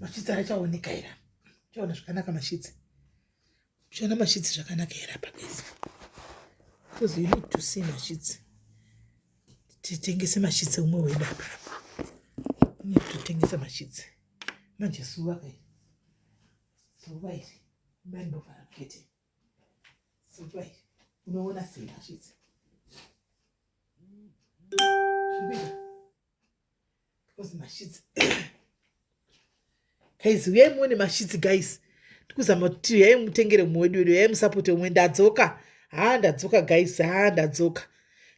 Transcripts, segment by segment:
mashitsi ara chaoneka ira chaona zvakanaka mashitsi uchaona mashitsi zvakanaka ira pabesa because you need to see mashitsi titengese mashitsi umwe weda need totengesa mashitsi manje suva kai suva iri bandovara kete Fuchwa iri. Unoona sei hazvidzi. Zvikuita. Because mashidzi. Guys, uyai muone mashidzi guys. Tikuzama kuti uyai mutengere umwe wedu wedu, uyai musapote umwe ndadzoka. Haa ndadzoka guys, haa ndadzoka.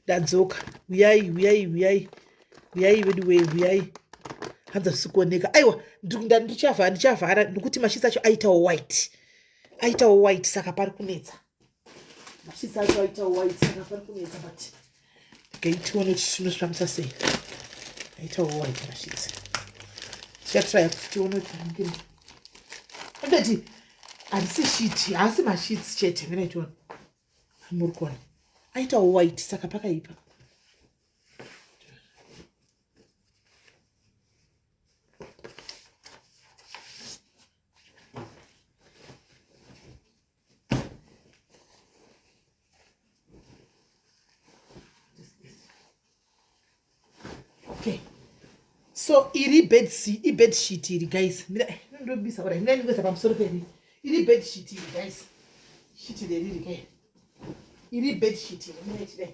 Ndadzoka. Uyai, uyai, uyai. Uyai wedu wei, uyai. Hanza zvisikuoneka. Aiwa, ndichavhara, ndichavhara nekuti mashidzi acho aitawo white. aitawo white saka pari kunetsa mashidzi acho aitawo white saka pari kunetsa but okay tione kuti tinozvifambisa sei aitawo white mashidzi tichatraya kuti tione kuti ange akati handisi shiti haasi mashidzi chete mina itiona muri kuona aitawo white saka pakaipa okay so iri bed sheet ibed sheet iri guys mira eh, ndobisa kudai mira ndikuisa pamusoro peri iri bed sheet iri guys sheet leriri ke iri bed sheet iri mira ichidai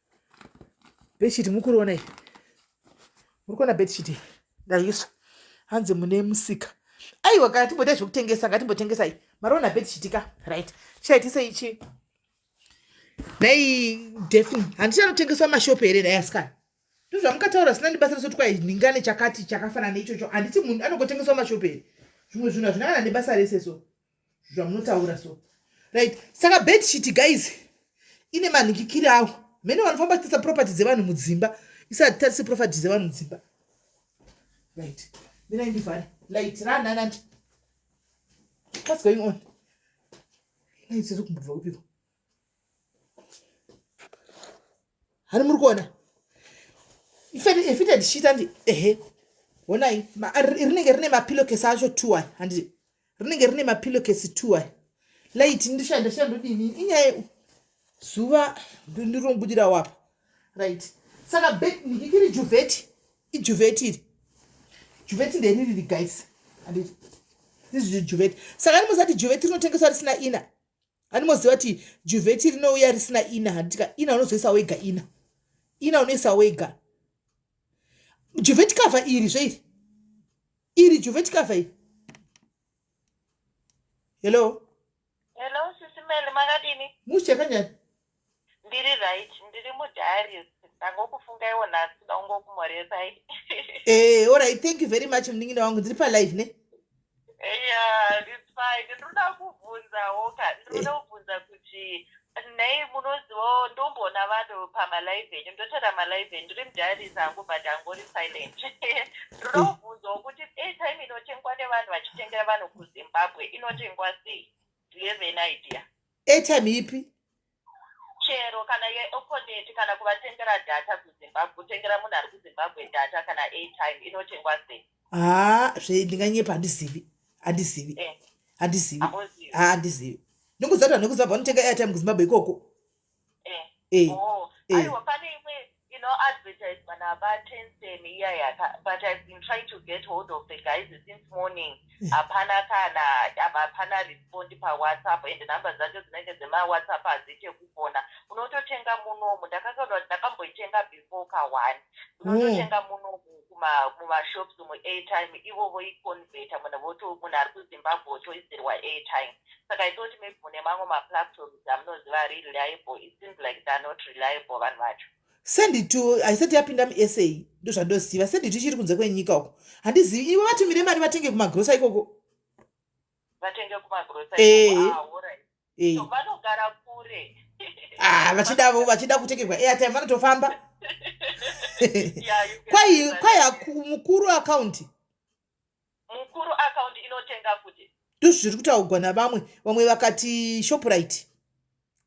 beshiti mukuriona iyi muri kuona beshiti ndaiswa hanzi mune musika aiwa kana timboita zvekutengesa ngatimbotengesai mariona beshiti ka right chaitisa ichi dai defini handiti anotengeswa mashopu here dai asikana ndozvamukataura sina ndibasa reso twai nhingane chakati chakafanana neichocho handiti munhu anongotengeswa mashopu here zvimwe zvinhu hazvinakana nebasa rese so zvamunotaura so right saka bed sheet guys ine manhikikiri awo mhene vanofamba kutarisa property dzevanhu mudzimba isati tarise property dzevanhu mudzimba right mirai ndivhare light ranhanati what's going on light ziri kumbobva kupiko hani muri kuona ifite ndichiita ndi ehe honai rinenge rine mapilokesi acho two ai handiti rinenge rine mapilokesi two ai light ndishanda shandodini inyaya zuva ndirombudira wapa right saka ndikiri juveti ijuveti iri juveti ndeni riri guys handiti this is juveti saka ndimusati juveti rinotengeswa risina ina Animoziva kuti juvheti rinouya risina ina handitika ina unozoisa wega ina ina unoisa wega juvheti kavha iri zveiri iri juvheti kavha iri hello hello sisi meli makadini mushe kanyari Ndiri right, ndiri mudiaries. Ndangokufungaiwo nhasi ndaungokumoresai. Eh, all right. Thank you very much munin'ina wangu. Ndiri pa live ne. Yeah, it's fine. Ndinoda kubvunzawo ka. Ndinoda kubvunza kuti nei munozivawo ndomboona vanhu pamalive enyu ndotora malive enyu ndiri mudiaries angu but angori silent. Ndinoda kubvunzawo kuti airtime inotengwa nevanhu vachitengera vanhu kuZimbabwe inotengwa sei? Do you have an idea? airtime ipi chero kana yeoponeti kana kuvatengera data kuzimbabwe kutengera munhu ari kuzimbabwe data kana airtime inotengwa sei haa zve ndinganyepa handizivi handizivi eh. handizivi haa handizivi ndinguziva kuti vanhu vekuzimbabwe vanotenga airtime kuzimbabwe ikoko eh, eh, oh, eh. aiwa pane imwe inoadvertiswa nabatensen iya yaka but ive been trying to get hold of the guys since morning eh. hapana kana hapana respond pawhatsapp and number dzacho dzinenge dzemawhatsapp hadziite kufona unototenga munomu ndakakaona kuti ndakamboitenga before ka one oh. unototenga munomu mumashops muairtime ivo voiconveta munhu voto munhu ari kuzimbabwe otoisirwa airtime saka i thought maybe mune mamwe maplatforms amunoziva ari reliable it seems like they're not reliable vanhu vacho senditu haisati yapinda musa ndozvandoziva senditu ichiri kunze kwenyika uko handizivi ivo vatumire mari vatenge kumagrosa ikoko vatenge kumagrosa vanogara kure ah, vachidavo vachida kutengerwa airtime vanotofamba kwai kwai mukuru akaunti mukuru account inotenga kuti ndizvo zviri kutaugwa navamwe vamwe vakati shoprite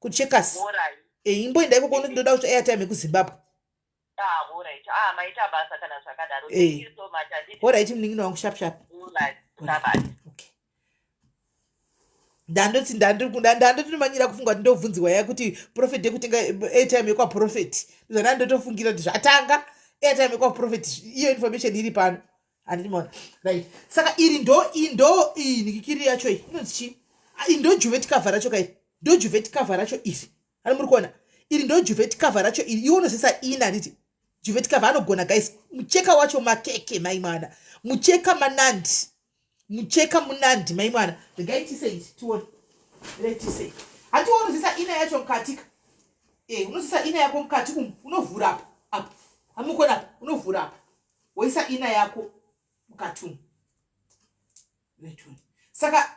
kucheckers eh, imboenda ikoko unoti ndoda kuti airtime yekuzimbabwe horaiti munin'ina wangu shapshap ndandoti ndandotinomanyira kufunga kuti ndovhunziwa ya kuti profet yekutenga airtime yekwaprofet zvandaa ndotofungira kuti zvatanga airtime yekwaprofet iyo information iri pano andimona right saka iri ndo indo iyi nikikiri yacho iyi inonzi chii ah, iri ndo juvet cover racho kairi ndo juvet cover racho iri ani muri kuona iri ndo juvet cover racho iri iwo unozisa ini anditi juvet cover anogona guys mucheka wacho makeke maimwana mucheka manandi mucheka munandi mai mwana regai tisei tione regai tisei hatiwo unozisa ina yacho mukatika e unozisa ina yako mukati umu unovhura apa apa hamukona apa unovhura apa woisa ina yako mukati umu saka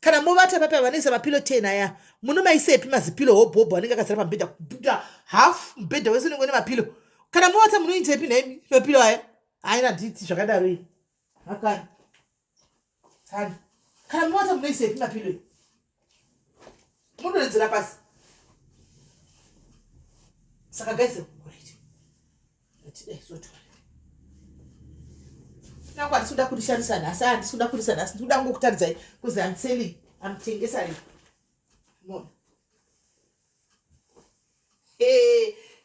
kana movata papi avanoisa mapilo ten aya munomaisepi mazipilo hobhobho anenge akazara pamubhedha kubuda half mubhedha wese unenge une mapilo kana movata munoitepi nhaimi mapilo aya haina diti zvakadaro iyi akani tani kana movata munoisepi mapilo iyi munonzira pasi saka gaise Nangwa ndisuda kurishandisa nhasi a ndisuda kurisa nhasi ndikuda kungokutaridzai kuzi am selling am tengesari mona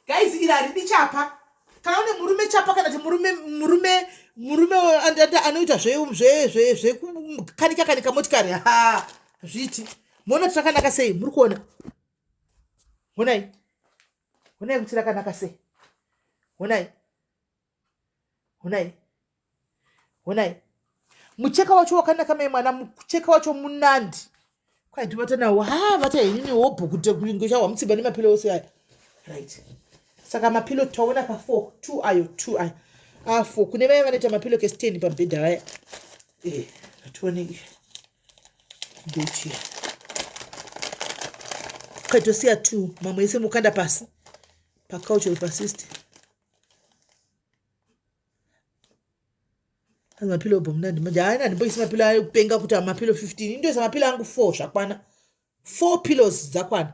guys iri haridi chapa kana une murume chapa kana ti murume murume murume anoita zvekukanika kanika motikari ha zviti mona tirakanaka sei muri kuona honai honai kuti rakanaka sei honai honai honai mucheka wacho wakanaka mai mwana mucheka wacho munandi kwaidivata nawo ha vata henini hobho kuti kunge chahwa mutsimba nemapilo ose aya right saka mapilo taona pa four two ayo two ayo afo ah, kune vaya vanoita mapilo kesteni pabhedha vaya eh, ationei ndochiya kaitosiya two mamwe ese mukanda pasi pacouch or pasist anzi mapilo obomnandi manje haana ndimboisi mapilo ayo kupenga kuti mapilo 15 indoisa mapilo angu four zvakwana four pillows dzakwana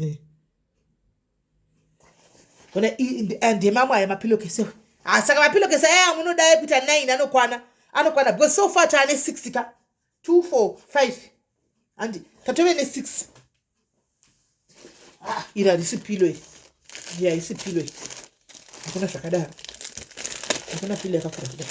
eh. ona eh, ndemamwe aya mapilokese ah, saka mapilokese aya amunodae kuita nine anokwana anokwana because so far taane 6 ka 2 4 5 handi tatove ne 6 ah, iri harisi pilo iri ya isi pilo iri hakuna zvakadaro hakuna pilo yakakura kudaro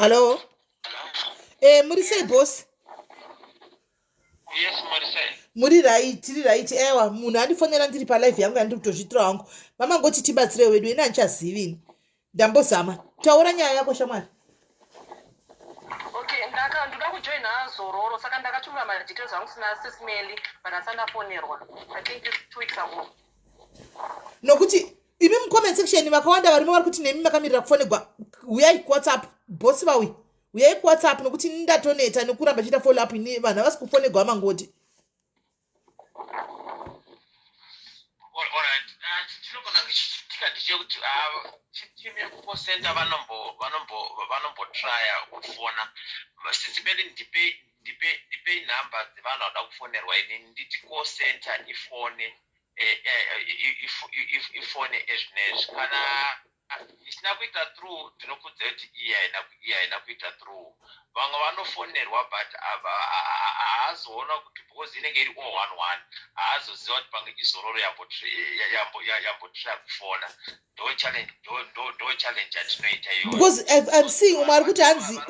Hello? Eh, muri sei boss? Yes, muri sei? Muri right, tiri right. Ewa, munhu andifonera ndiri pa live yangu yandiri kutozvitira wangu. Mama ngoti tibatsire wedu, ini handichazivi ini. ndambozama taura nyaya yako shamwari okay ndaka ndoda kujoina zororo saka ndakatumira madetails angu sina sismeli but asati ndafonerwa i think this two weeks ago nokuti imi mucomment section vakawanda varimo vari kuti nemi makamirira kufonegwa uyai kuwhatsapp bosi vauyi uyai kuwhatsapp nokuti ndatoneta nekuramba chiita follow up ini vanhu havasi kufonegwa vamangoti chekuti timu yekuposenta vanombotraya kufona sisi bedi ndipei ndipei nhamba dzevanhu vanoda kufonerwa ini nditi call center ifone ifone ezvinezvi kana Isina kuita through ndinokudza kuti iyi haina iyi haina kuita through vamwe vanofonerwa but haazoona kuti because inenge iri all one one haazoziva kuti pange izororo yambotraya kufona ndo challenge ndo challenge yatinoita iyoyo because i'm seeing umwe ari kuti hanzi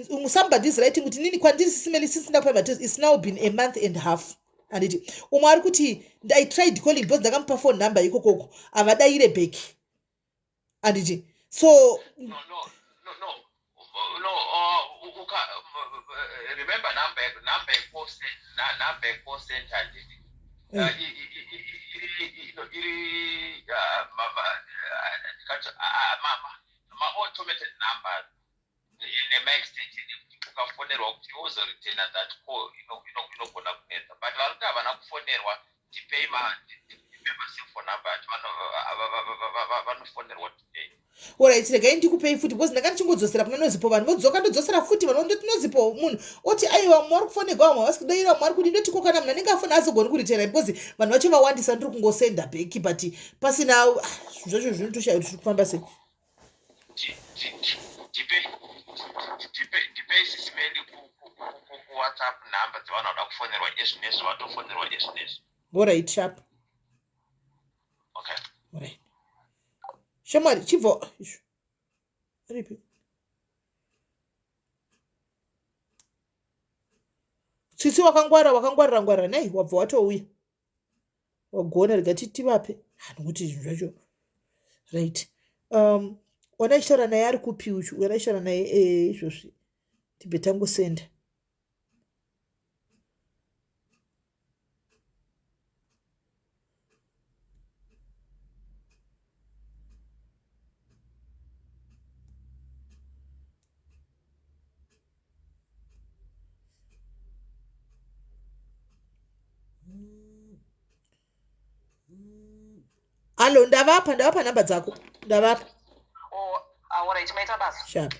umwe somebody is writing kuti nini kwandiri sisimeli since ndakupa mates it's now been a month and half handiti umwe ari kuti i tried calling because ndakamupa phone number ikokoko havadaire back handiti so no, no, no, no. No, uh, uka, uh, remember number, number, number, ukafonerwa kuti wozoritena that call inogona kunetsa but vari kuti havana kufonerwa tipei masephone number ati vanofonerwa tipei orit regai ndikupei futi because ndanga ndichingodzosera kuna nozipo vanhu vodzoka ndodzosera futi vanhu ndoti nozipo munhu oti aiwa vamwe vari kufonegwa vamwe havasi kudaira vamwe vari kuti ndotiko kana munhu anenge afona azogoni kuritena because vanhu vacho vawandisa ndiri kungosenda beki but pasina ah, zvacho zvinotoshaya kuti zviri kufamba sei ndipei sisi medi kuwhatsapp number dzevanhu vada kufonerwa izvi nezvi vatofonerwa izvi nezvi orit sharp shamwari chibvo ripi tsitsi wakangwara wakangwarira ngwarira nei wabva watouya wagona rega titivape hanhu kuti zvinhu zvacho right um ona ichitaura naye ari kupi uchu ona ichitaura naye eh, izvozvi tibve tangosenda hallo ndavapa ndavapa nhamba dzako ndavapa oh, shap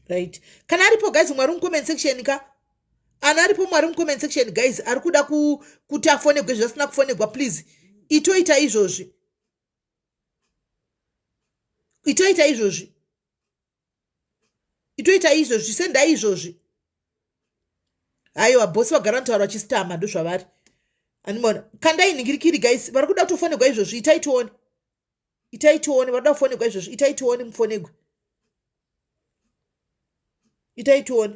right kana aripo guys mwari mucomment section ka ana aripo mwari mucomment section guys ari kuda kuti afonegwe zvasina kufonegwa please itoita izvozvi itoita izvozvi itoita izvozvi sendai izvozvi haiwa bosi vagara vanotaura vachisitama ndozvavari animoona kandai nhingirikiri guys vari kuda kutofonegwa izvozvi itai tione itai tione vari kuda kufonegwa izvozvi itai tione mufonegwe itai tione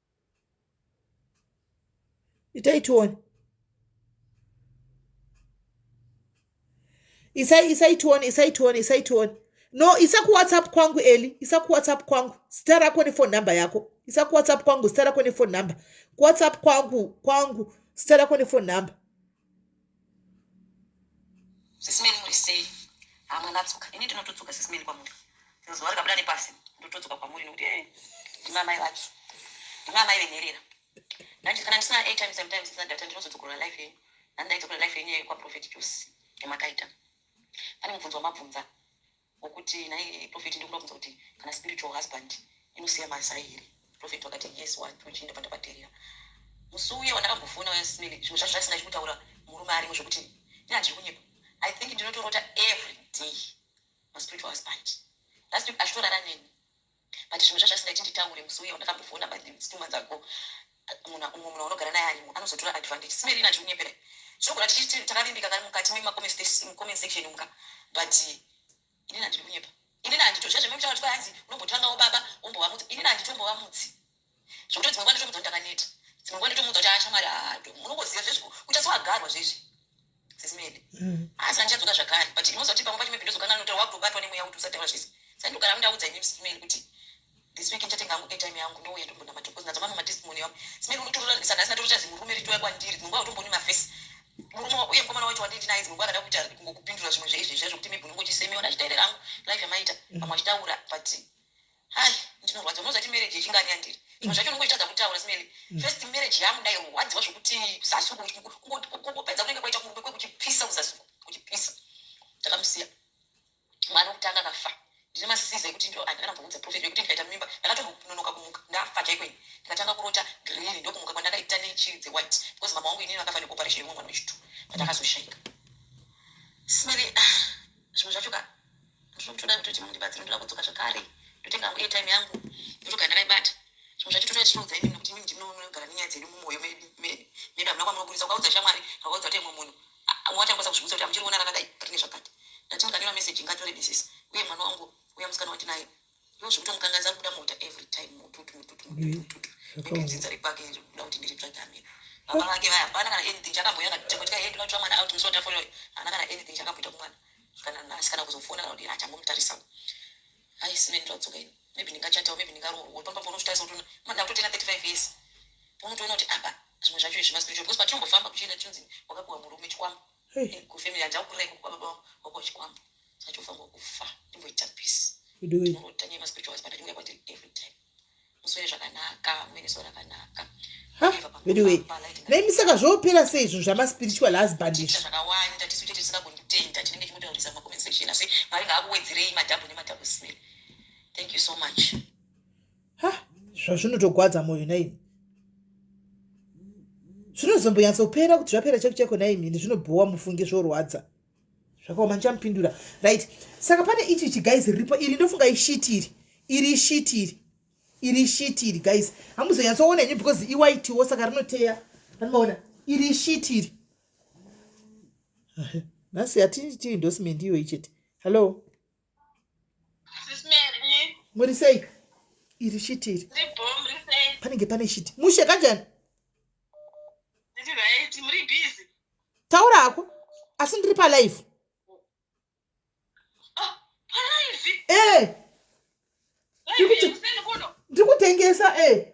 itai tione isai isai tione isai tione isai tione no isa kuwhatsapp kwangu eli isa kuwhatsapp kwangu zita rako nefone number yako isa kuwhatsapp kwangu zita rako nefone number kuwhatsapp kwangu kwangu zita rako nefone number sisimeni muri sei hamwe natsoka ini ndinotodzoka sisimeni kwamuri zuva rikabuda nepasi ndotodzoka kwamuri nokuti eh, ndimamai vake ndimamai venherera ndanje kana ndisina atime sometimes ndisina data ndinozodzokorora life yenyu nani ndaidzokorora life yenyu kwaprofet jose yamakaita pane mubvunzo wamabvunza Wakuti nhai prophet ndikuda kubvunza kuti kana spiritual husband inosiya mazai here? Prophet wakati yes what uchienda pandakaterera. Musi uya wandakambofona uya smile zvimwe zvacho zvaisina chikutaura murume arimo zvekuti ndina ndiri kunyepa. I think ndinotorota every day ma spiritual husband. Last week achitorara neni but zvimwe zvazvasingaiti nditaure musi uye wandakambofona but it's two months ago munhu umwe munhu unogara naye arimo anozotora advantage simerina ndiri kunyepera zvinogona tichiti takavimbika kari mukati memacoment section muka but inini handiri kunyepa inini handito zvazvimwe mutaura kuti kwahanzi unombotangawo baba wombovamutsi inini handitombovamutsi zvekuti dzimwe nguva nditomuudza kuti ndakaneta dzimwe nguva nditomuudza kuti ashamwari ah, ado munongoziva zvezvi kuita sewagarwa zvezvi sesimedi mm. asi andichadzoka zvakare but inoziva kuti pamwe pacho maybe ndozokanga nota wakutobatwa nemweya kuti usataura zvese saka ndogara ndaudza ini simedi kuti this week ndichatenga hangu airtime yangu ndouya tombona matokozi nadzo mamwe matestimony yavo simedi unotorora saka asina torota zimurume ritoya kwandiri dzimwe nguva utomboni mafesi murume uye mukomana wacho wanditi naye dzimwe nguva akada kuita kungokupindura zvimwe zveizvezvi zvekuti maybe unongochisemeona achitaire rangu life yamaita pamwe achitaura but Hai, ndinorwadziwa unozvati marriage yechingani yandiri. Zvimwe zvacho unongotadza kutaura Smelly. Mm. First marriage yangu ndairwadziwa zvokuti kuzasi uko kungopedza kunenge kwaita kurume kwekuchipisa kuzasi uko kuchipisa. Ndakamusiya. Mwana wokutanga akafa. Ndine masiza ekuti ndo handina namboudza prophet yekuti ndikaita mimba ndakatononoka kumuka ndafa chaiko ini. Ndakatanga kurota green ndokumuka kwandakaita nechiri dze white because mama wangu inini vakafa neoperation yemwe mwana wechitu. Ndakazoshaika. Smelly ah, zvimwe zvacho ka ndizvo ndinoda kutoti mundibatsire ndoda kudzoka zvakare ndotenga hangu airtime yangu ndotoga ndakaibata zvimwe zvacho totoda tichiudza imini nokuti imini ndinonogara nenyaya dzedu mumwoyo medu medu hamuna kwamunoburitsa ukaudza shamwari ukaudza kuti imwe munhu wachangosa kuzvibudza kuti amuchiri kuona rakadai rine zvakati ndati ndikanyora meseji nganyore misisi uye mwana wangu uya musikana wandinaye Unozvikuta mukanganzi ari kuda mota every time mututu mututu mututu mututu. Maybe dzinza rekwake iri kuda kuti ndiri tsvage amira. Baba vake vaya hapana kana anything chakamboita kana kuti kuti hedu vatsva mwana out musota for yoy. Hana kana anything chakamboita kumwana. Kana nasi kana kuzofona kana kuti achangomutarisa. Hai sine ndodzoka ini. Maybe ndingachata maybe ndingaroorwa. Uri pamba pono zvitaisa kuti mwana ndakutena 35 years. Unotoona kuti apa zvimwe zvacho izvi maspiritual because patinombofamba kuchienda chinzi wakapiwa murume chikwambo. kufemiri hajau kurai kukuba baba wako chikwambo sachofa ngokufa imboita peace ndinoita nyaya maspiritual husband achinge kwatiri every time muswere zvakanaka muve neso rakanaka veduwe naimi saka zvoopera sei izvo zvamaspiritual husband izvi zvakawanda tisu chete tisingagonditenda tinenge chimutaurisa macomments section asi mwari ngaakuwedzerei madhabhu nemadhabhu smell thank you so much ha zvazvinotogwadza mwoyo naimi zvinozombonyatsopera kuti zvapera cheko cheko naimi ende zvinobhowa mufunge zvorwadza zvakaoma ndichamupindura right saka pane ichi chigais riripo iri ndofunga ishiti iri iri ishiti iri iri ishiti iri gais hamuzonyatsoona ini because iwaitiwo saka rinoteya anoona iri ishiti iri nhasi hatii ndosmendi iyoyi chete hallo muri sei iri shiti iri panenge pane shiti mushe kanjani taura hako asi ndiri palive ah, ee eh! ndiri kutengesa ee eh!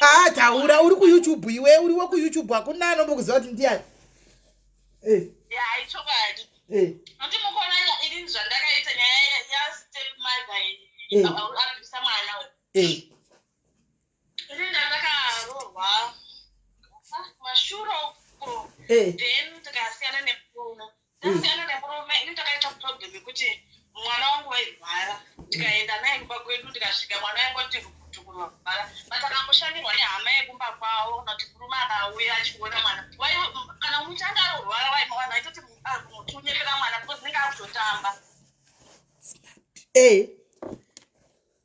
Ah, taura uri kuyoutube iwe uri wekuyoutube hakuna anombokuziva kuti ndiyani eh. eh. eh. ndasiyana nemurume ini ndakaita problem yekuti mwana wangu wairwara ndikaenda naye kumba kwedu ndikasvika mwana wangu ati rukutu kurwara but akamboshandirwa nehama yekumba kwavo noti murume akauya achiona mwana kana muti anga arorwara vaimawana aitoti ah, muti unyepera mwana because nenge akutotamba ee eh.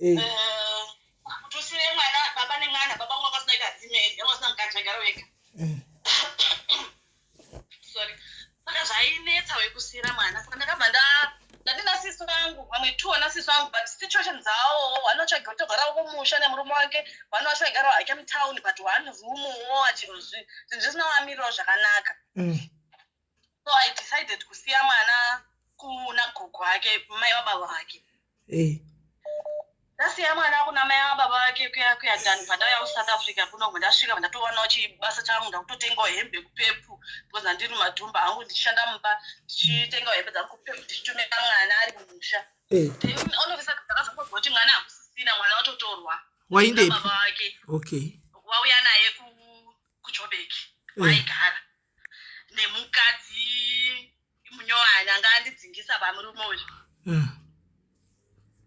eh. eh, kutusire mwana baba nemwana baba wangu akasina ita dzimei yavasina mukadzi vagara wega eh. sorry saka zvainetsa wekusira mwana saka ndakabva nda ndandina sisi vangu vamwe two ana sisi vangu but situation dzawo one wacho aigara togarawo kumusha nemurume wake one wacho aigarawo hake mutown but one room wo achizvinhu zvisina wamiriro zvakanaka mm. so i decided kusiya mwana kuna gogo wake mai wababa vake eh. ndasiya mwana kuna mai wababa vake kuya kuya dani pandauya kusouth africa kuno ndasvika ndatowanawo chibasa changu ndakutotengawo hembe kupepu because andiri madhumba angu ndichishanda mumba ndichitengawo hembe dzangu kupepu ndichitumira mwana ari mumusha eh. all of a sudden ndakazongonzwa kuti mwana hakusisina mwana watotorwa waindepi okay wauya naye kuchobeki eh. waigara nemukadzi munyowani anga andidzingisa pamurume uyu eh.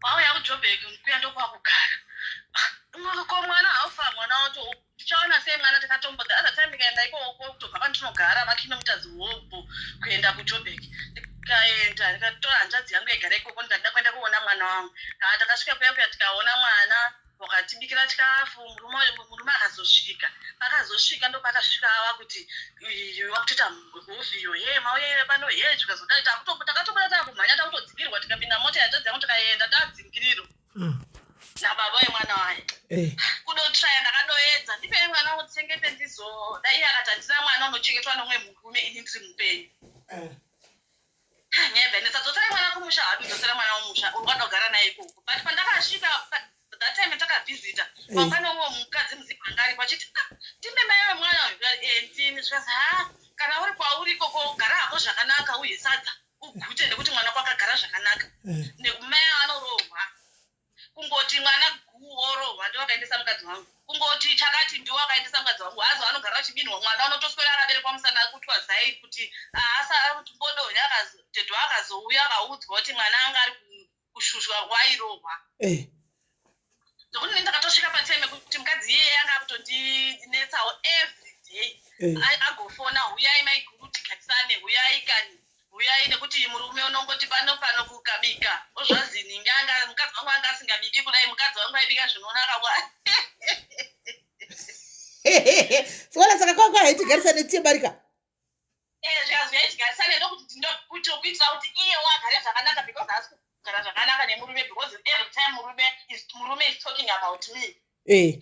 wauya kujobek kuya ndokwakugara ko mwana haufa mwana wato tichaona sei mwana takatombo the other time ndikaenda ikoko kutobva pandinogara makinometazi hobho kuenda kujobek ndikaenda ndikatora hanzvadzi yangu yagara ikoko ndikadida kuenda kuona mwana wangu haa takasvika kuya kuya tikaona mwana wakatibikira chikafu murume uyo murume akazosvika pakazosvika ndopakasvika ava kuti wakutoita mhofi iyo hee mauyaive pano hee zvikazodai takatobuda takumhanya takutodzingirwa tikapinda mota yatadzi yangu tikaenda tadzingiriro mm. nababa wemwana waye eh. kudotraya ndakadoedza ndipei mwana utsengete ndizodai akati handina mwana unochengetwa nomwe murume ini ndiri mupenyu eh. Nyaya dzainetsa dzotsera mwana kumusha hadu dzotsera mwana kumusha urwada kugara naye ikoko but pandakasvika that time takavhizita kwakwana uwo mukadzi muziva anga aripo achiti ah, ndime mai vemwana uyu ndikati ee eh, ndini zvikanzi ha kana uri kwauri ikoko gara hako zvakanaka uye sadza ugute nekuti mwana kwakagara zvakanaka eh. nekumaya anorohwa kungoti mwana guu orohwa ndiwo akaendesa mukadzi wangu kungoti chakati ndiwo akaendesa mukadzi wangu hazo anogara uchibinhwa mwana unotoswera akaberekwa musana akutwa zai kuti ahasa ari kuti bodo yakatedo akazouya akaudzwa kuti mwana anga ari kushushwa wairohwa eh. ndokuti nei ndakatosvika patime kuti mukadzi iyeye anga akutondinetsawo every day eh. agofona huyai maiguru tigatisane huyai kani huyai nekuti iyi murume unongoti pano pano kukabika ozvazini nganga mukadzi wangu anga asingabiki kudai mukadzi wangu aibika zvinonaka wa sikona saka kwakwa haitigarisa netiyebarika eh, zvikazwi haitigarisa nekuti ndokuitira kuti iye wagare zvakanaka because haasi kugara zvakanaka nemurume because every time murume is, murume is talking about me eh.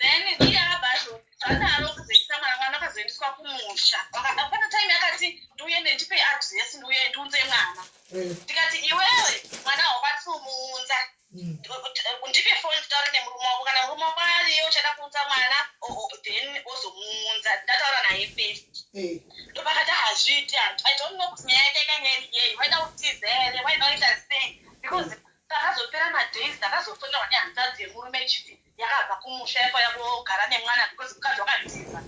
then iye akabva zvadaro kuzoisa mwana mwana akazoendeswa kumusha akapana time akati ndiuye nendipe adress ndiuye ndiunze mwana mm. ndikati iwewe mwana haukwanisi kumuunza mm. ndipe foni nditaure nemurume wako kana murume wako ariye uchada kuunza mwana then ozomuunza ndataura naye first mm. ndopakati hazviiti i don't know kuti nyaya yake ikanga iri yei waida kutiza here waida kuita sei because mm. Pakazopera madays ndakazofonyawo nehanzvadzi yemurume ichiti yakabva kumusha yakwaya kogara nemwana because mukadzi wakazviziva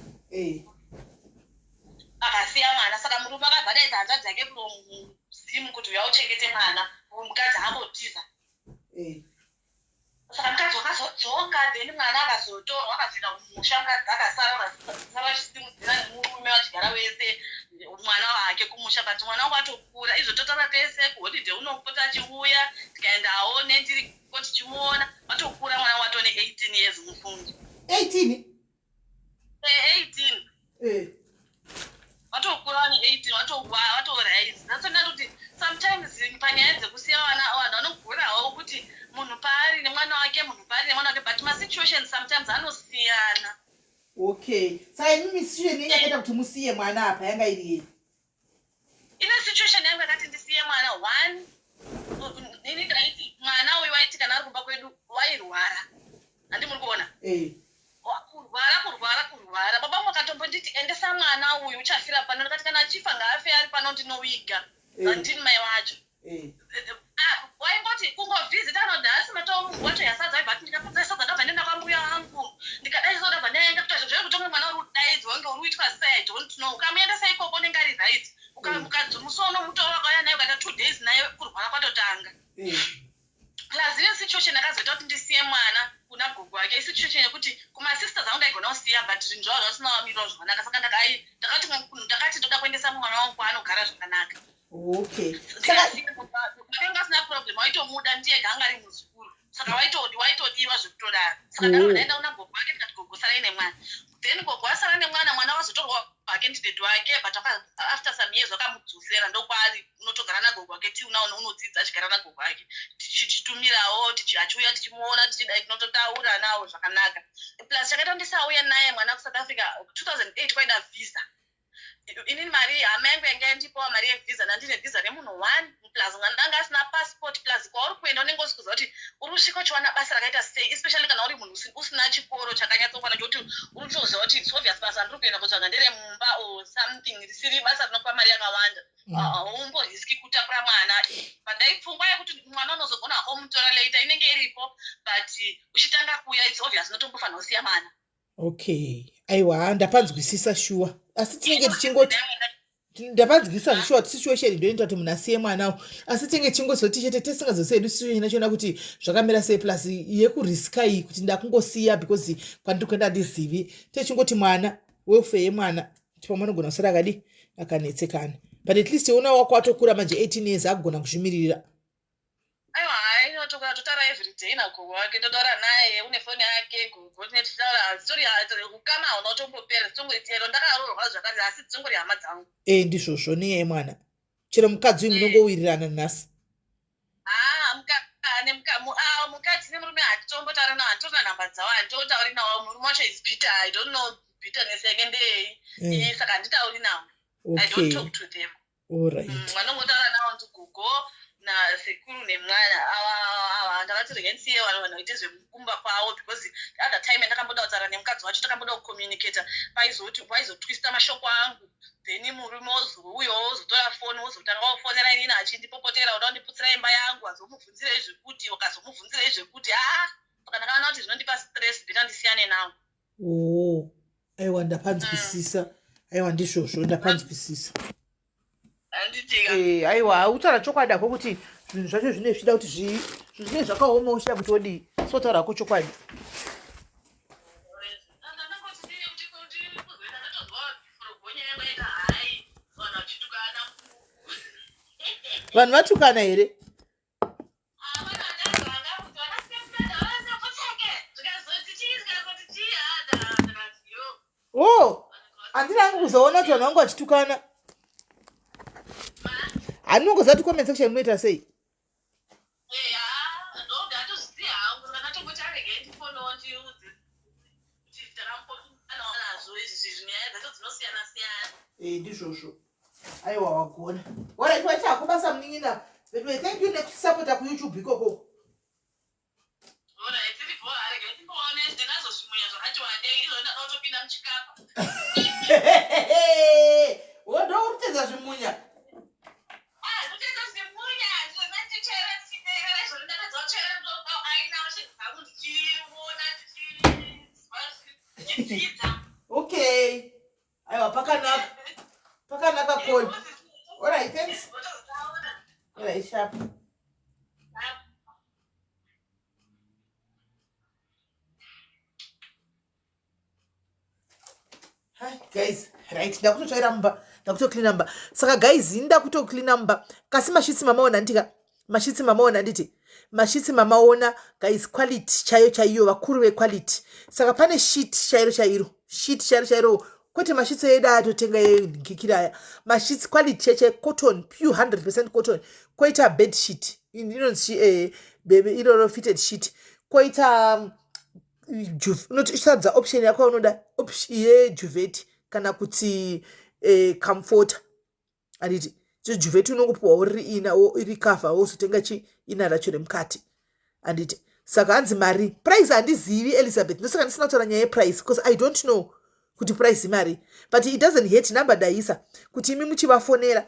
akasiya mwana saka murume akabva adaidza hanzvadzi yake kunomuzimu kuti uya uchengete mwana uyu mukadzi angotiza saka mukadzi wakazodzoka then mwana akazotorwa akazoenda kumusha mukadzi akasara vakasara vachisimudzira nemurume vachigara wese mwana wake kumusha but mwana wangu ato kura izvo totaura tese kuholiday unopota achiuya tikaenda aone tiriko tichimuona watokura mwana watone 18 years mufungi 18 18 eh watokura vane 18 watowaya watorise that's not kuti sometimes panyaya dzekusiya vana vanhu vanogorawo kuti munhu paari nemwana wake munhu paari nemwana wake but masituation sometimes anosiyana okay saimimi situation yakaita kuti musiye mwana apa yanga iri yei ine situation yangu yakati ndisiye mwana one nini ndaiti mwana uyu waiti kana ari kumba kwedu wairwara handi muri kuona eh. kurwara kurwara kurwara baba vangu vakatombonditi endesa mwana uyu uchafira pano ndikati kana achifa ngaafe ari pano ndinoviga eh. handini mai wacho waingoti kungovhizita anoti haasi matomuwa to yasadza but ndikapedza yasadza ndabva ndenda kwambuya vangu ndikadai so ndabva ndaenda kuita zvinhu zvekuti umwe mwana uri kudaidzwa kunge uri kuitwa sei i don't know ukamuendesa ikoko unenge ari right ukamukadzimusono mutora wakauya naye ukaita two days naye kurwara kwatotanga plus ine situation akazoita kuti ndisiye mwana kuna gogo wake isituation yekuti kumasisters angu ndaigona kusiya but zvinhu zvavo zvasina vamirwa zvakanaka saka ndakai ndakati ndakati ndoda kuendesa mwana wangu kwaanogara zvakanaka okay ndakanga asina problem waitomuda ndiye ganga ari muzukuru saka waitodi waitodiwa zvekutodaro saka ndakadaenda kuna gogo wake ndikati gogo sarai nemwana then gogo asara nemwana mwana wazotorwa hake ndidedi wake but after some years wakamudzosera ndokwaari unotogara nagogo wake ti unaona unodzidza achigara nagogo wake tichitumirawo achiuya tichimuona tichidai tinototaura nawo zvakanaka plus chakaita kuti ndisauye naye mwana kusouth africa 2008 kwaida visa inini mari hama yangu yanga yandipawa mari yevisa nandine visa remunhu one plus mwana anga asina passport plus kwauri kuenda unenge usi kuziva kuti uri kusvika uchiwana basa rakaita sei especially kana uri munhu usina chikoro chakanyatsokwana chokuti uri kutoziva kuti its obvious basa ndiri kuenda kutsvaga ndere mumba or something risiri basa rinokupa mari yakawanda mm. ah, haumbo riski kutakura mwana pandai pfungwa yekuti mwana unozogona hako mutora later inenge iripo but uchitanga kuya its obvious unotombofanira kusiya mwana okay aiwa ndapanzwisisa shuwa asi tinenge tichingoti ndapanzwisisa zvishuwa situation ndoinoita kuti munhu asiye mwana u asi tinenge tichingozoti chete tesingazosiye hedu situation yachiona kuti zvakamira sei plus yekuriska iyi kuti ndakungosiya because kwandiri kuenda handizivi techingoti mwana welfare yemwana kuti pamwe anogona kusara akadi akanetsekana but at least ona wako atokura manje 18 years agona kuzvimiririra aiwa hai inotoka totaura everyday nagogo wake totaura naye une foni yake gogo tine tichitaura hazitori ukama hauna utombopera dzitongori chero ndakaroorwa zvakare asi dzitongori hama dzangu e ndizvozvo niyai mwana chero mukadzi uyu munongowirirana nhasi haa mukane mukamu awo mukadzi nemurume handitombotaura nawo handitorina nhamba dzawo handitotauri nawo murume wacho is bitter i don't know bitterness yake ndeyei saka handitauri nawo i don't talk to them Alright. Mm, vanongotaura nawo ndi gogo nasekuru nemwana ava ava ndakati rega ndisiye vanhu vanhu vaite zvekumba kwavo because other time yandakamboda kutaura nemukadzi wacho takamboda kucommunicata paizoti paizotwista mashoko angu then murume wozouyawo wozotora foni wozotanga wofonera inini achindipopotera uda kundiputsira imba yangu azomubvunzirei zvekuti ukazomubvunzirei zvekuti haa ah, pakanakana kuti zvinondipa stress beta ndisiyane nawo oo oh, aiwa ndapanzwisisa mm. aiwa ndizvozvo ndapanzwisisa eh, aiwa hautaura chokwadi ako kuti zvinhu zvacho zvine zvichida kuti zvii zvinhu zvine zvakaoma uchida kuti odii sotaura ako chokwadi vanhu vatukana here oh handina angu kuzoona kuti vanhu vangu vachitukana handinongoziva kuti comment section munoita sei ndizvozvo aiwa wagona warekiwa chako basa munin'ina veduwe thank you nekusapota kuyoutube ikoko woda kutedza zvimunya okay aiwa pakanaka pakanaka koi orit thanks orit sharp guys right ndakutotsvaira mumba ndakutocleana mumba saka guys inda kutocleana mumba kasi mashitsi mamaona nditika mashitsi mamaona anditi mashitsi mamaona guys quality chaiyo chaiyo vakuru vequality saka pane shit chairo chairo shit chairo chairo kwete mashitsi edu ayatotenga enkikira aya mashitsi quality cheche cotton pure 100 percent cotton koita bed sheet inonzi eh, iroro fitted sheet koita um, unotisadza option yako unoda yejuveti kana kuti eh, comforter handiti chijuvheti unongopiwa uri ina iri kafa wozotenga chi ina racho remukati handiti saka hanzi mari price handizivi elizabeth ndosaka ndisina kutaura nyaya yeprice because i don't know kuti price imari but it doesn't hate number daisa kuti imi muchivafonera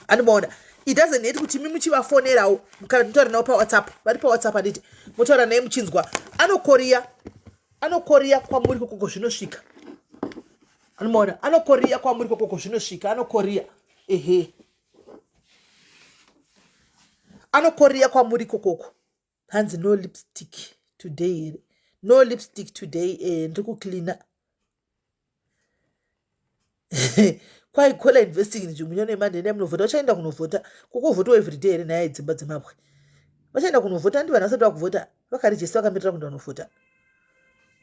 anomaona it doesn't hate kuti imi muchivafonerawo kana mutotaura navo pawhatsapp vari pawhatsapp handiti motaura naye muchinzwa anokoriya anokoriya kwamuri kokoko zvinosvika anomaona anokoriya kwamuri kokoko zvinosvika anokoriya ehe anokoriya kwamuri kokoko hanzi no lipstick today here no lipstick today eh, ndiri kucleana kwai kola investing nzvimbunya nemanhene munovhota vachaenda kunovhota kukovhotwa everyday here nhaya yedzimba dzemabwe vachaenda kunovhota ndi vanhu vasati vakuvhota vakari jesu vakamberera kuenda kunofuta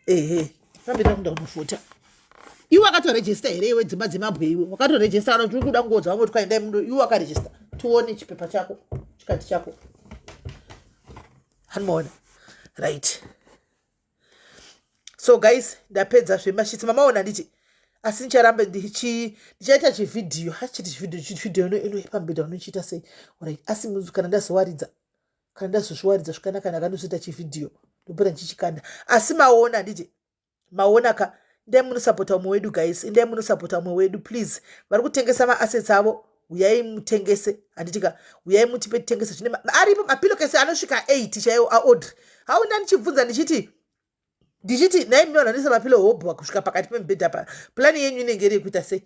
ehe vakamberera kuenda kunofuta iwe wakatorejesta here iwe dzimba dzemabwe iwe wakatorejesta kana tiri kuda kungoudza vamwe kuti kwaendai muno iwe wakarejesta tione chipepa chako chikati chako hanimaona right so guys ndapedza zvemashitsi mamaona nditi asi ndicharamba ndichaita chivhidhiyo hachiti chivhidhiyo chivhidhiyo inoipa mbeda unochiita sei orit asi kana ndazowaridza kana ndazozviwaridza zvakanaka ndakanozoita chivhidhiyo ndopera ndichichikanda asi maona handiti maona ka ndai munosapota umwe wedu guys ndai munosapota umwe wedu please vari kutengesa maassets avo huyai mutengese handiti ka huyai mutipe titengese zvine aripo mapilokesi anosvika eight chaiwo aodri hau nda ndichibvunza ndichiti ndichiti nhai minoona ndise mapilo hobwa kusvika pakati pemubhedha pa plani yenyu inenge iri yekuita sei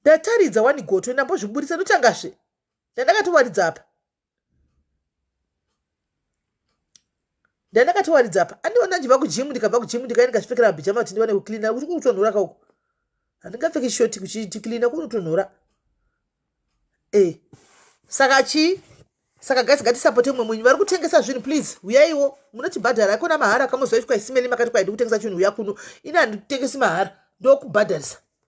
ndataridza wani goto ndambozviburitsa ndotangazve ndandakatowaridza apa ndandakatowaridza apa andiona ndiva kujimu ndikabva kujimu ndikaenda kachipfekera mabhijama kuti ndiwane kucleana kuti kunotonhora kauko handingapfeki shoti kuchiti cleana kunotonhora e eh, saka chii saka guys ngatisapote mumwe munyu vari kutengesa zvinhu please huyaiwo munotibhadhara akona mahara kamozoitwa isimeni makati kwaidi kutengesa chinhu huya kuno ini handitengesi mahara ndokubhadharisa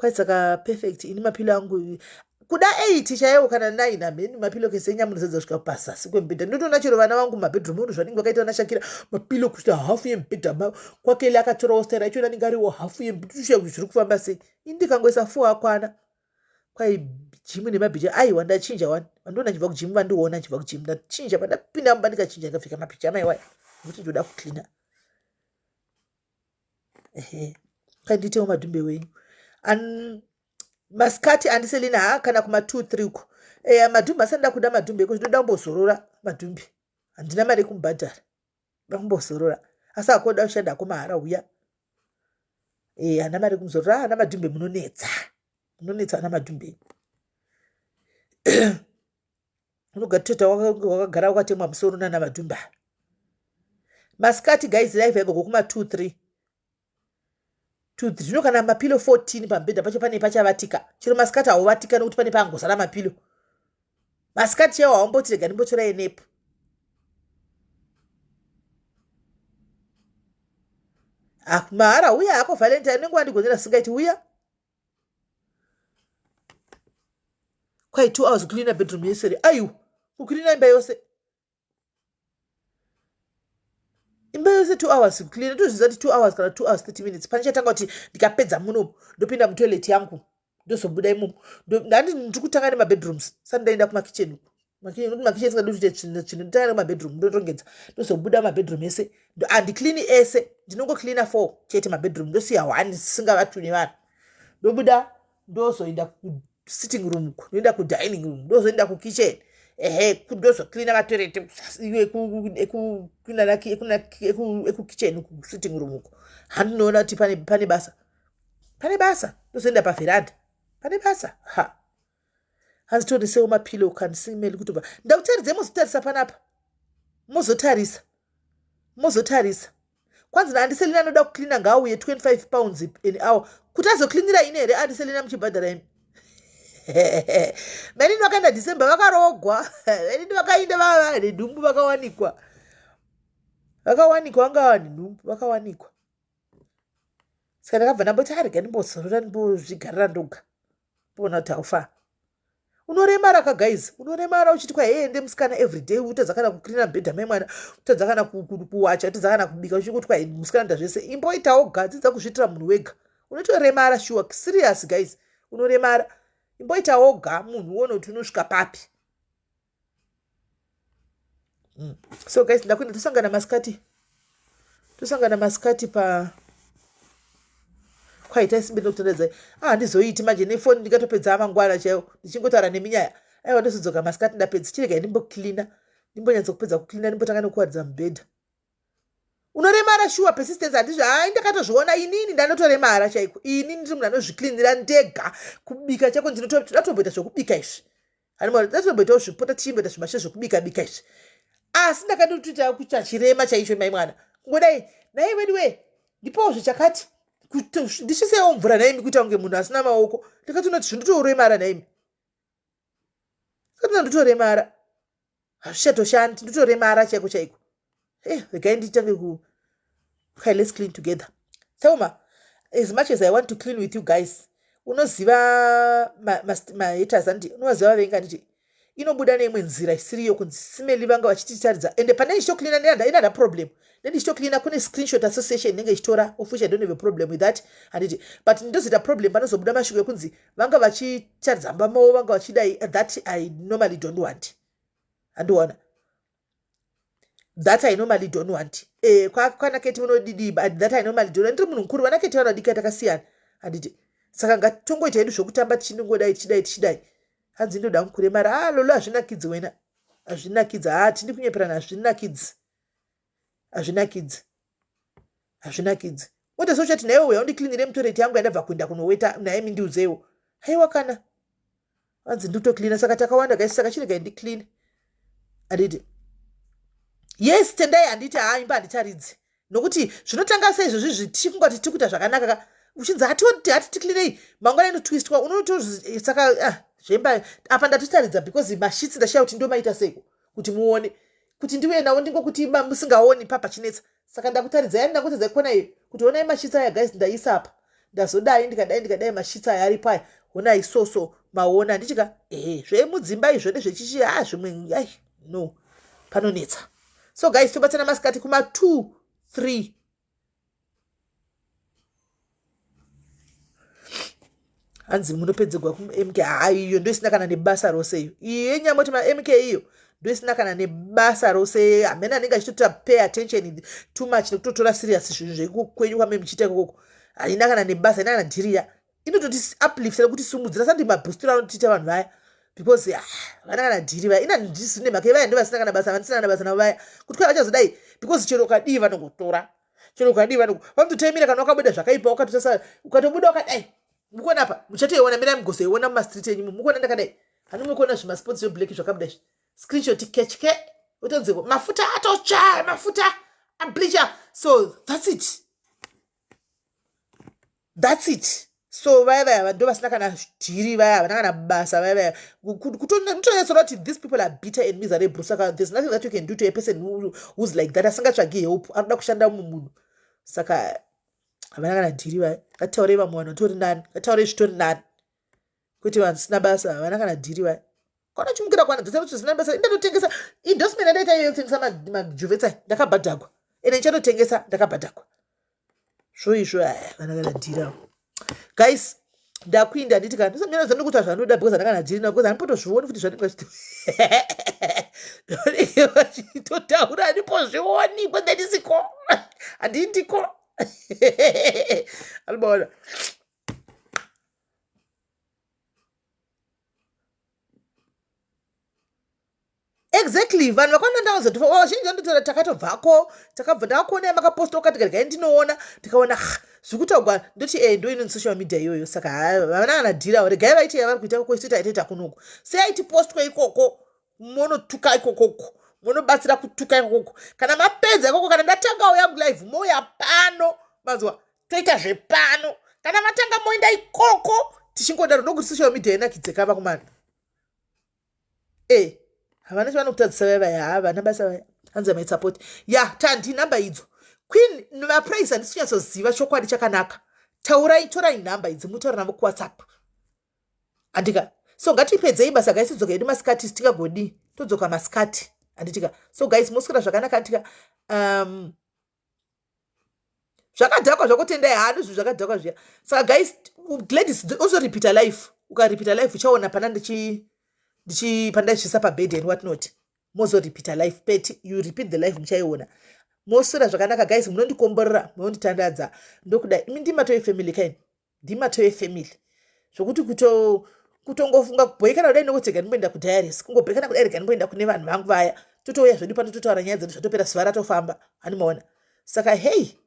kwaitsaka perfect ini mapilo angu kuda eight chaiwo kana nine hamheni mapilo kese enyamuridzadza kusvika pazasi kwemubhedha ndotoona chero vana vangu mabedroom unu zvanenge vakaita vana shakira mapilo kusvika hafu yemubhedha ma kwakele akatorawo staira ichona anenge ariwo hafu yemubhedha kuti zviri kufamba sei ini ndikangoisa four akwana kwai jimu nemabhicha aiwa ndachinja wani vandiona chibva kujimu vandiona chibva kujimu ndachinja pandapinda mumba ndikachinja ndikapfeka mabhicha amaiwaya kuti ndoda kucleana ehe panditewo madhumbe wenyu An... masikati andiselina ha kana kuma two three uko eya madhumbe asanda kuda madhumbe eko zvinoda kumbozorora madhumbe handina mari yekumubhadhara da kumbozorora asi akoda kushanda ako mahara uya e hana mari kumuzorora ah, ana madhumbe munonetsa munonetsa ana madhumbe unogatota wakagara wakatemwa musoro nana vadhumba masikati guys live yaiva kokuma 2 3 zvino kana mapilo 14 pamubhedha pacho pane pachavatika chero masikati hauvatika nekuti pane paangozara mapilo masikati chaiwo haumboti rega ndimbotora enepo ah, mahara uya hako valentine unenge wandigonera singaiti uya Quite two hours cleaner bedroom yesere aiwa kucleaner imba yose imba yose two hours kucleaner tozviziva kuti two hours kana two hours thirty minutes pane chatanga kuti ndikapedza munomu ndopinda mutoilet yangu ndozobuda imomo ndandi ndiri kutanga nemabedrooms sati ndaenda kumakitchen uku makicheni nekuti makicheni singadi kuita chinhu chinhu nditangana kumabedroom ndotongedza ndozobuda mabedroom ese handicleani ese ndinongocleana four chete mabedroom ndosiya one sisingavatu nevanhu ndobuda ndozoenda kusitting room ku ndoenda kudining room ndozoenda kukitchen ehe ndozocleana matoilet ekukitchen kusitting room uku handinoona kuti pane basa pane basa ndozoenda paveranda pane basa ha hazitonesewo mapillow can see meli kutobva ndakutaridzai mozotarisa panapa mozotarisa mozotarisa kwanzi naandiselina anoda kucleana ngaauye 25 pounds an hour kuti azocleanira ini here andiselina muchibhadhara imi mainini vakaenda december vakarogwa mainini vakainda vava vane nhumbu vakawanikwa vakawanikwa vanga vane nhumbu vakawanikwa saka ndakabva ndamboti arega ndimbozorora ndimbozvigarira ndoga pona taufa unoremara ka guys unoremara uchiti kwaende musikana everyday utadza kana kucleana bhedha mai mwana utadza kana kuwacha utadza kana kubika uchikuti kwae musikana nda zvese imboitawo gadzidza kuzviitira munhu wega unotoremara shuwa serious guys unoremara imboitawo ga munhu uone kuti unosvika papi mm. so guys ndakuenda tosangana masikati tosangana masikati pa kwaita isimbe ndokutondedza ah, handizoiti manje nefoni ndikatopedza amangwana chaiwo ndichingotaura neminyaya aiwa ndozodzoka masikati ndapedza chirega ndimboklina ndimbonyatsa kupedza kuklina ndimbotanga nekuwaridza mubhedha unoremara shuwa persistence handizvo hai ndakatozviona inini ndanotoremara chaiko ini ndiri munhu anozviklinira ndega kubika chako ndinotoda tomboita zvekubika izvi Ani mwari tinotomboitawo zvipota tichimboita zvimashe zvokubika bika izvi. Asi ndakatotoita kuita chirema chaicho mai mwana. Kungodai nai wedu we ndipowo zvichakati ndishisewo mvura naimi kuita kunge munhu asina maoko ndikatoona kuti zvindotoremara naimi ndikatoona ndotoremara hazvichatoshandi ndotoremara chaiko chaiko e eh, regai nditange ku okay let's clean together thelma as much as i want to clean with you guys unoziva mahaters andi unovaziva vavengi anditi inobuda neimwe nzira isiri yo kunzi simeli vanga vachititaridza ende pane ndichitocleana neanother problem nendichitocleana kune screenshot association inenge ichitora of which i don't have a problem with that handiti but ndozoita problem panozobuda mashoko ekunzi vanga vachitaridza mumba mavo vanga vachidai that i normally don't want handiona that i normally don't want eh, kwana keti munodidii but that i normally don't ndiri munhu mukuru vana keti vanodika takasiyana handiti saka ngatitongoita hedu zvokutamba tichinongodai tichidai tichidai hanzi ndoda mukuremara a ah, lolo hazvinakidzi wena hazvinakidzi ha ah, tindi kunyeperana hazvinakidzi hazvinakidzi hazvinakidzi woda so chati naiwe uya undiklinire mutoreti yangu yandabva kuenda kunoweta naye mindiudzeiwo haiwa kana hanzi nditoklina saka takawanda kaisi saka chirega indikline anditi yes tendai handiti haa imba handicharidzi nokuti zvinotanga sei izvozvi zvitifungwa kuti tikuita zvakanaka ka uchinzi hatioti hati tiklinei mangwana inotwistwa unotosaka ah, zvemba apa ndatotaridza because mashitsi ndashaya kuti ndomaita seiko kuti muone kuti ndiuye navo ndingokuti iba musingaoni papa chinetsa saka ndakutaridzai ndakutadza ikona iyo kuti honai mashitsa aya guys ndaisa apa ndazodai ndikadai ndikadai mashitsa aya aripo aya honai soso maona ndichika ehe zvemudzimba izvo nezvechichi ha ah, zvimwe ai no panonetsa so guys tobatsana masikati kuma two three hanzi munopedzegwa kumk haa iyo ndoisina kana nebasa rose iyo iyo yenyamoti mamk iyo ndoisina kana nebasa rose hamene anenge achitotora pay attention too much nekutotora serious zvinhu zvekukwenyu kwame muchiita ikoko haina kana nebasa haina kana dhiriya inototi uplifta nekuti sumudzira sandi mabhustura anotiita vanhu vaya because ah, vana kana dhiri vaya ina ndisine mhaka ivaya ndo vasina kana basa vandisina kana basa navo vaya kuti kwai vachazodai because chero ukadii vanongotora chero ukadii vano vanototaimira kana wakabuda zvakaipa wakatotasa ukatobuda wakadai mukuona apa muchatoiona mirai mugozoiona mumastreet enyu mukuona ndakadai hanu mukuona zvimasports zveblack zvakabuda izvi screenshot kechke utonzeko mafuta atotsva mafuta ableacher so that's it thats it so vaya vaya vado vasina kana dhiri vaya havana kana basa vaya vaya kutonyatsona kuti these people are bitter and miserable saka there's nothing that you can do to a person who's like that asingatsvagi help anoda kushanda mumwe munhu saka havana kana dhiri vaya ngataurei vamwe vanhu vatori nani ngataurei zvitori nani kuti vanhu sina basa havana kana dhiri vaya kwanochimukira kwana dzese kuti zina basa ndatotengesa endorsement andaita iyo yekutengesa majuvetsai ndakabhadhagwa ende ndichatotengesa ndakabhadhagwa zvo izvo aya vana kana dhirawo guys ndakuinda handiti kana ndisamira zanu kuti hazvanoda because andakana dhiri navo because handipotozvioni kuti zvanenge vachito vanenge vachitotaura handipozvioni because ndandisiko handindiko anobaona exactly vanhu vakwana ndavazoti vazhinji vandotaura takatobvako takabva ndakakuonai makaposta ukati regai ndinoona ndikaona zviri kutaugwa ndoti e eh, ndo inoni social media iyoyo saka vana vanadhirawo regai vaiti yavari kuita koko isu taitoita kunoku seaitipostwa ikoko monotuka ikokoko monobatsira kutuka ikokoko kana mapedza ikoko kana ndatangawo yangu live mouya pano mazuva toita zvepano kana matanga moenda ikoko tichingodaro ndokuti social media inakidzeka vakomana e eh, havana chavanokutadzisa vaya vaya havana basa vaya hanzi amai support ya tandi nhamba idzo queen vapraise handisi kunyatsoziva chokwadi chakanaka taurai torai nhamba idzi mutaura navo kuwhatsapp Handitika, so ngatipedzei basa guys todzoka hedu masikati sitingagodii todzoka masikati handitika so guys moswera zvakanaka handitika um, zvakadhakwa zvakotendai hano zvinhu zvakadhakwa zviya saka guys gladys also repeater life ukarepeater life uchaona pana ndichi ndichi pana ndichisa pabed and what not mozo repeater life pet you repeat the life muchaiona moswera zvakanaka guys munondikomborera munonditandadza ndokuda imi ndimatoe family kaini ndimato yefamily zvokuti kuto kutongofunga kubhoikana kudai nokuti rega ndimboenda kudiaries kungobhoikana kudai rega ndimboenda kune vanhu vangu vaya totouya zvedu pano totaura nyaya dzedu zvatopera zuva ratofamba hani maona saka hei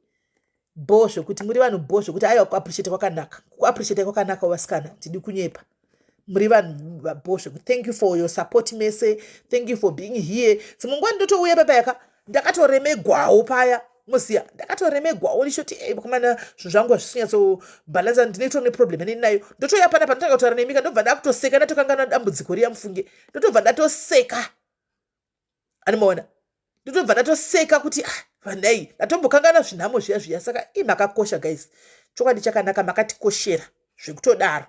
bho zvekuti muri vanhu bho zvekuti aiwa kuappreciate kwakanaka kuappreciate kwakanaka vasikana tidi kunyepa muri vanhu vabho zveku thank you for your support mese thank you for being here dzimwe nguva ndotouya papa yaka ndakatoremegwawo paya moziya ndakatoremegwawo ndichoti ei vakomana zvinhu zvangu hazvisinyatsobhalansa ndinoitwa neproblem aneni nayo ndotouya pana panotanga kutaura nemika ndobva ndakutoseka ndatokanganwa dambudziko riya mufunge ndotobva ndatoseka animoona ndotobva ndatoseka kuti ah, vanai ndatombokangana zvinhamo zviya zviya saka i makakosha guys chokwadi chakanaka makatikoshera zvekutodaro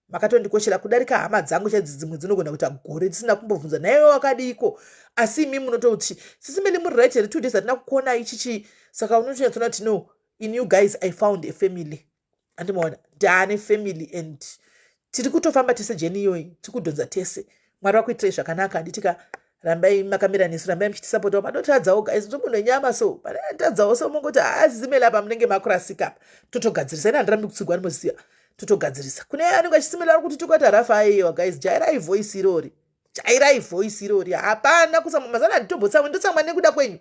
makatondikoshera kudarika hama dzangu chadzi dzimwe dzinogona kuita gore dzisina kumbobvunza naiwe wakadiiko asi imi munototi sisi mene muri right here two days hatina kukuonai chichii saka unotonyatsoona kuti no in you guys i found a family andimaona ndaane family and tiri kutofamba tese jeni iyoyi tiri kudhonza tese mwari vakuitirai zvakanaka handitika rambai makamira nesu rambai muchitisapota panotadzawo guys nzvimbo nenyama so panotadzawo so mongoti haazimela ah, pa munenge makurasika apa totogadzirisa ina handirambi kutsigwa anoziva totogadzirisa kune anenge achisimela ari kuti tokata rafa ayewa guys jairai voice irori jairai voice irori hapana kutsamwa mazana handitombotsama ndotsamwa nekuda kwenyu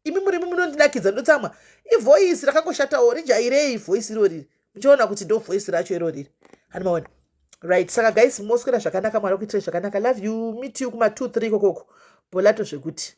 imi murimi munondinakidza ndotsamwa ivoice rakangoshatawo rijairei voice iroriri muchaona kuti ndo voice racho iroriri hani maona right saka guys moswera zvakanaka mwari akuitirai zvakanaka love you meet you kuma two three kokoko bolato zvekuti